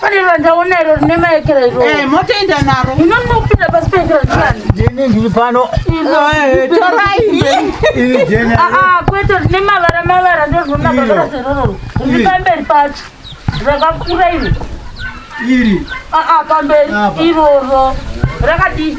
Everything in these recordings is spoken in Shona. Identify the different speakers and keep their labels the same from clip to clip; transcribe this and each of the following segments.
Speaker 1: pane randaona iro rine maekera iro eh, motoenda naro
Speaker 2: inonopinda pasi paekera
Speaker 1: ndiani ah, jeni ndiri pano
Speaker 3: eh,
Speaker 2: torai
Speaker 3: ah, ah, kwete rine
Speaker 1: mavara mavara ndozvona mavara zerororo riri pamberi pacho rakakura iri iri pamberi iroro rakadii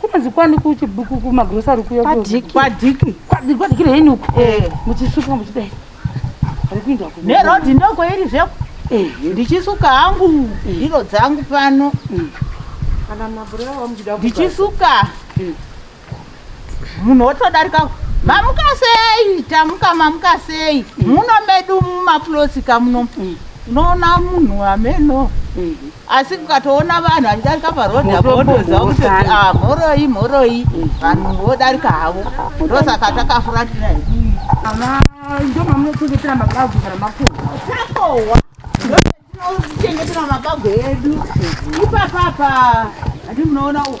Speaker 1: kunonzi kwani kumagrosari kuyakwadiki kwadiki
Speaker 2: kwadiki reini
Speaker 1: uku eh. muchisuka muchidai arikuinda nerodhi ndokwairi
Speaker 2: zveko eh. ndichisuka hangu eh. ndiro dzangu pano
Speaker 1: mm. ndichisuka
Speaker 2: mm. munhu wotodarika mamuka sei tamuka mamuka sei mm. muno medu mumapulosika muno unoona munhu ameno asi kukatoona vanhu vachidarika parodhi apo wotoziva kuti ah, mhoroi mhoroi vanhu vodarika havo ndosaka takafuratira
Speaker 1: ndo mamunochengetera mabagu kana makohwa takohwa
Speaker 2: ndotinochengetera mabagu edu ipapapa handi munoona uku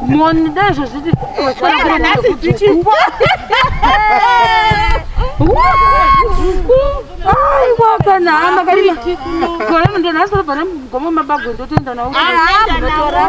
Speaker 2: Moni
Speaker 1: dai zvazviti vaswera nhasi
Speaker 2: dzichipo.
Speaker 1: Aiwa kana hama kari gore mundo nhasi vari pane mugoma mabago ndotoenda nawo. Anotora.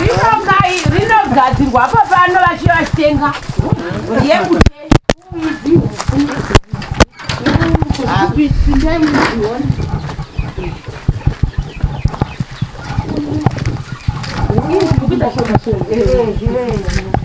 Speaker 2: rinogai rinogadzirwa apa pano vachiva vachitenga yekutei Thank you.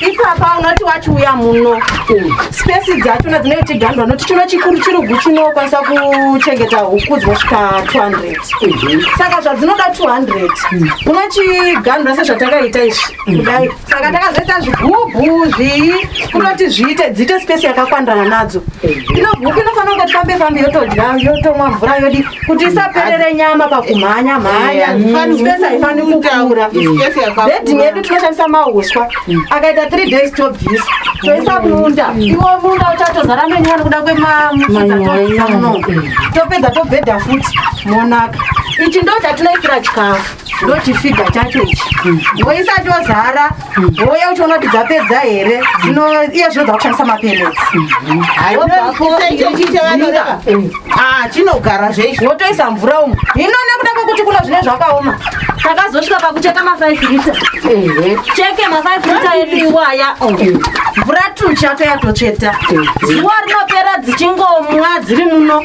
Speaker 4: ipapa unoti wachiuya muno spesi dzacho nadzinenge chigandwa noti chino chikuru chirugu chinokwanisa kuchengeta huku dzinosvika 200 saka zvadzinoda 200 unochigandwa sezvatakaita izvi kudai saka takazoita zvigubhu zvii kunoti zviite dziite space yakakwandirana nadzo ino gupi inofanira kunge tifambe fambe yotodya yotomwa mvura yodi kuti isaperere nyama pakumhanya mhanya space haifani kukura beding yedu tinoshandisa mauswa akaita three days tobvisa toisa munda iwo munda uchatozara menyuwa nekuda kwemamuno topedza tobhedha futi monaka ichi ndo chatinoitira chikafu ndochifiga chacho ichi woisati wazara wouya uchiona kuti dzapedza here dzino iye zvino dzakushandisa mapenesiachinogara
Speaker 2: zveichi wotoisa mvura umu
Speaker 4: hino nekuda kwekuti kuno zvine zvakaoma takazosvika pakucheka mafive lita cheke mafive lita edu iwaya mvura tuchatoyatotsveta zuva rinopera dzichingomwa dziri muno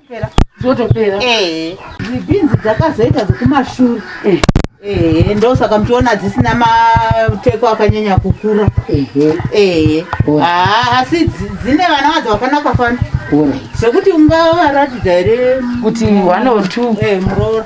Speaker 2: zvotopera
Speaker 1: eh. dzibhinzi
Speaker 2: dzakazoita dzekumashure eh. ehe ndosaka muchiona dzisina mateko akanyanya kukura ehe ah, asi dzine vana vadzo vakanaka fana zvekuti ungavaratidza here kuti one or
Speaker 1: two eh, muroora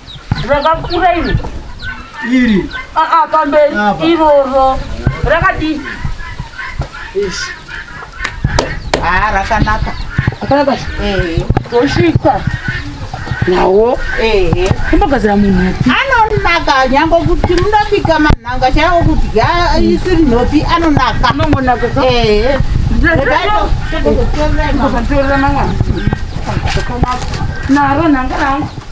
Speaker 1: rakakura iri iri
Speaker 3: aa ah, ah,
Speaker 1: pamberi iroro rakadii
Speaker 2: haa ah, rakanaka akanaka eh.
Speaker 1: tosvika nawo ehe kumbogadzira munhu upi anonaka nyange
Speaker 2: kuti munobika manhanga chaiwo kudya isiri nhopi anonaka anongonaka ehe
Speaker 1: naro nhanga rangu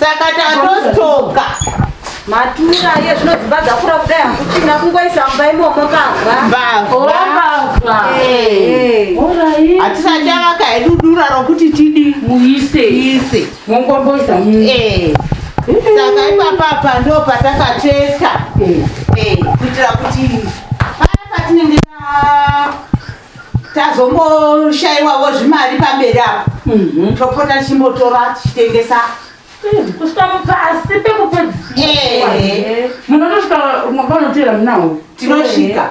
Speaker 2: saka tatostoka
Speaker 4: matura iye zvino dzimba dzakura kudai hakuchina kungoisa mumba imomo kavhambavha
Speaker 2: hatisati avaka hedu dura rokuti tidi muise ise mongomboisa
Speaker 1: eh.
Speaker 2: saka ipapapa ndo patakatesta eh. eh, kuitira kuti paya patinenge tazomboshaiwawo zvimari pamberi apo mhm. topota tichimbotora tichitengesa kusvika
Speaker 1: mupasi pekupedzisira munotosvika mwapanotera munawo tinosvika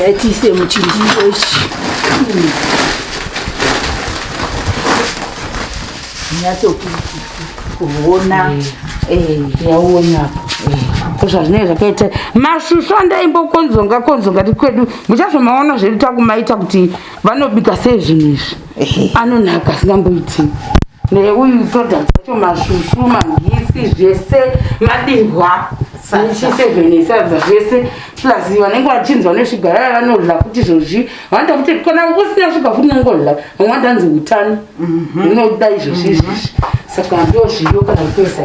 Speaker 2: Yatiise muchindiro ichi.
Speaker 1: Nyatso kuona.
Speaker 2: Eh, yaona
Speaker 1: hapo. zvazvinenge zvakaita masvusvu andaimbokonzonga konzonga ti kwedu muchazomaona zvedu takumaita kuti vanobika sei zvinhu izvi anonaka asingamboiti neuyu toda dzacho masvusvu magisi zvese madihwa sechise zvenesadza zvese plus vanenge vachinzi vane shuga vaya vanodla kuti izvozvi vanoita kuti kana usina shuga futi unongodla vamwe vandanzi utano mhm. unoda izvozvi mhm. izvozvi saka ndo zviyo kana kutoisa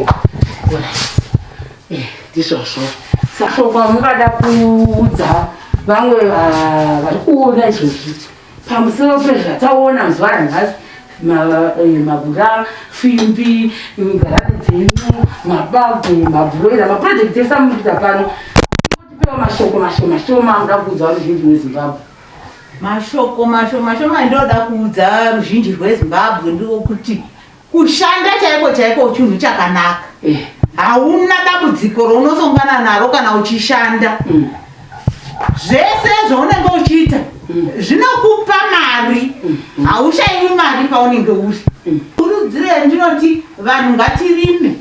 Speaker 1: eh, ndizvozvo sashoko mungada kuudza vamwe ah, vari kuona izvozvi pamusoro pezvataona zuva ranhasi eh, mabura fimbi ngarani dzenyu mabage mabhuroira maprojekti ese amukuita pano tipewo mashoko mashomashoma amuda kuudza ruzhinji rwezimbabwe mashoko mashomashoma
Speaker 2: ndinoda kuudza ruzhinji rwezimbabwe ndiko kuti Kushanda chaiko chaiko uchunhu chakanaka. Eh. Hauna dambudziko rounozongana naro kana uchishanda. Mm. Zvese zvaunenge uchiita mm. zvinokupa mari. Mm. Haushaiwi mari paunenge uri. Kurudziro yandinoti vanhu ngatirime.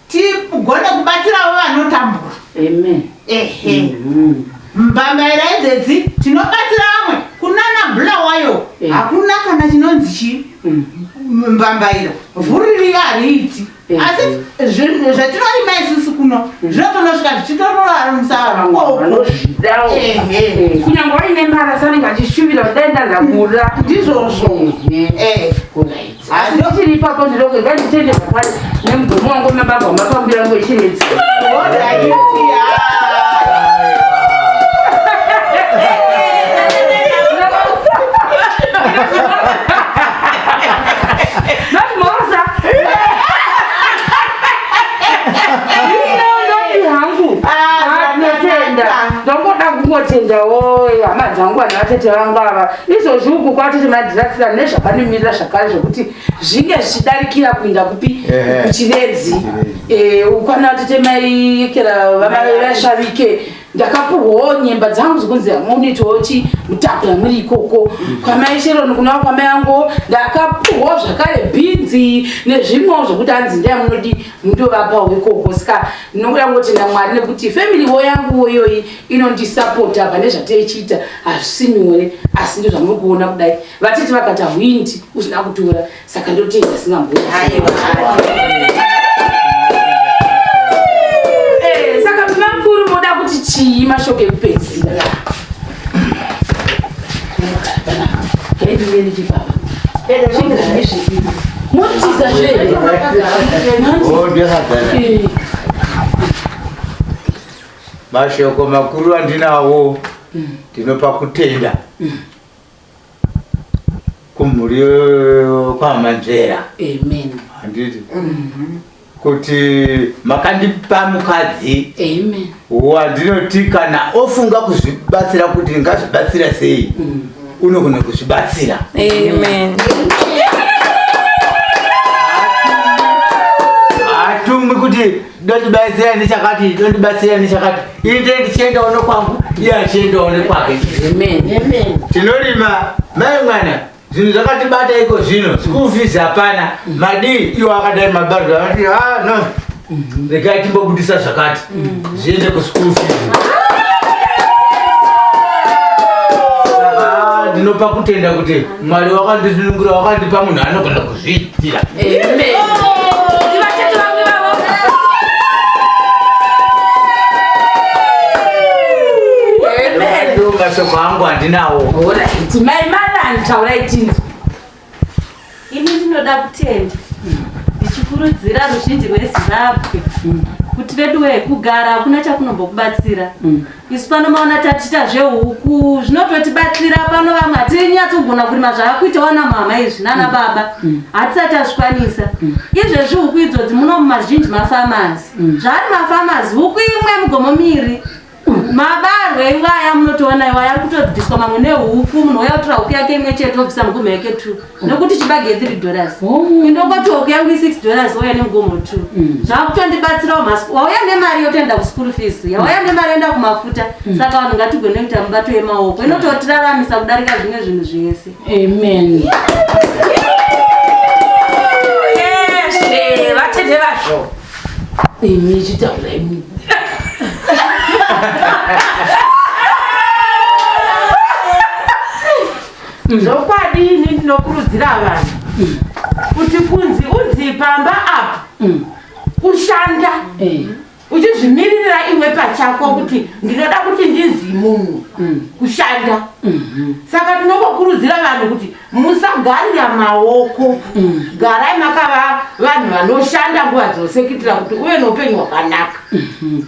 Speaker 2: tigone kubatsirawo vanotambura amen ehe mm-hmm. mbambaira idzedzi tinobatsira vamwe kunana bula wayo eh. hakuna kana chinonzi chii mm. mbambaira vhuririyo hariiti eh. asi zvatinorima isusu kuno mm. zvinotonosvika zvichitororarumusaakunyange
Speaker 1: waine mbara sanenge achishuvira kudai ndandakura ndizvozvo mm-hmm.
Speaker 2: eh.
Speaker 1: asi ndochiri ipapo ndinoke nganditende zvakare nemugomo wangu mababa wamapambira yangu echirezi ndongoda kungotendawo hama dzangu vanhu vatete vangu ava izvozvi uku kwatoti madirasira nezvakanomirira zvakare zvokuti zvinge zvichidarikira kuinda kupi kuchivedzi eh, ukwana totemaiekera vamaivashavike ndakapuhwawo nyemba dzangu dzokunzi amunoitawo chi mutakura muri ikoko kwamai sheroni kunaa kwamai angu ndakapuhwawo zvakare bhinzi nezvimwewo zvokuti anzi ndai munodi mundovapawo ikoko saka ndinokuda kungoti namwari nekuti family wo yanguwo iyoyi inondisapota pane zvateichiita hazvisi nyore asi ndozvamuri kuona kudai vatiti vakata hwindi usina kutora saka ndotei zvasingambo eh, saka mnamkuru moda kuti chii mashoko ekupedzira motiza zvee
Speaker 3: Mashoko makuru andinawo ndinopa kutenda kumhuri kwamanzvera handiti kuti makandipa mukadzi wandinoti kana ofunga kuzvibatsira kuti ndingazvibatsira sei mm. unogona kuzvibatsira hatumbi kuti Ndondibatsira nechakati, ndondibatsira nechakati. Ini ndiye ndichiendawo nekwangu, iye achiendawo nekwake. Amen. Amen. Tinorima mai mwana zvinhu zvakatibata iko zvino school fees hapana madii iwo akadai mabariro akati ah no regai timbobudisa zvakati zviende kuschool fees Saka, ah, ndinopa kutenda kuti mwari wakandisunungura wakandipa munhu anogona ku Zvitira. Amen. Ivachati vamwe vavo. Amen. Mashoko angu handinawo. Alright. Mai Malan taurai tinzi.
Speaker 4: Ini ndinoda kutenda ndichikurudzira ruzhinji rweZimbabwe kuti veduwe kugara hakuna chakunombokubatsira isu pano maona tatiita zvehuku zvinototibatsira pano vamwe hatinyatsogona kurima zvaakuita wana mama izvi nana mm. baba mm. hatisati azvikwanisa mm. izvezvi huku idzodzi muno mumazhinji mafamazi zvaari mafamazi huku imwe mugomo miri mabarwe iwaya munotoona iwaya ari kutobviswa mamwe nehuku munhu oya kutora huku yake imwe chete obvisa mugumha yake two nokuti chibage ye3 dollars oh. indokotioko yangu i6 dollars wauya nemugomo two mm. zvakutondibatsirawo masiku wauya nemari yotoenda kuschool fees yauya mm. nemari yoenda kumafuta mm. saka vanhu ngatigone kuita mubato yemaoko inototiraramisa kudarika zvimwe zvinhu zvese amen
Speaker 1: vatete vazvo imi chitaura imi
Speaker 2: zvokwadi ini ndinokurudzira vanhu kuti kunzi unzi pamba apa mm. kushanda eh. uchizvimiririra iwe pachako kuti ndinoda kuti ndinzi munhu mm. kushanda mm-hmm. saka tinokokurudzira vanhu kuti musagarira maoko mm. garai makava vanhu vanoshanda nguva dzose kuitira kuti uve noupenyu hwakanaka mm-hmm.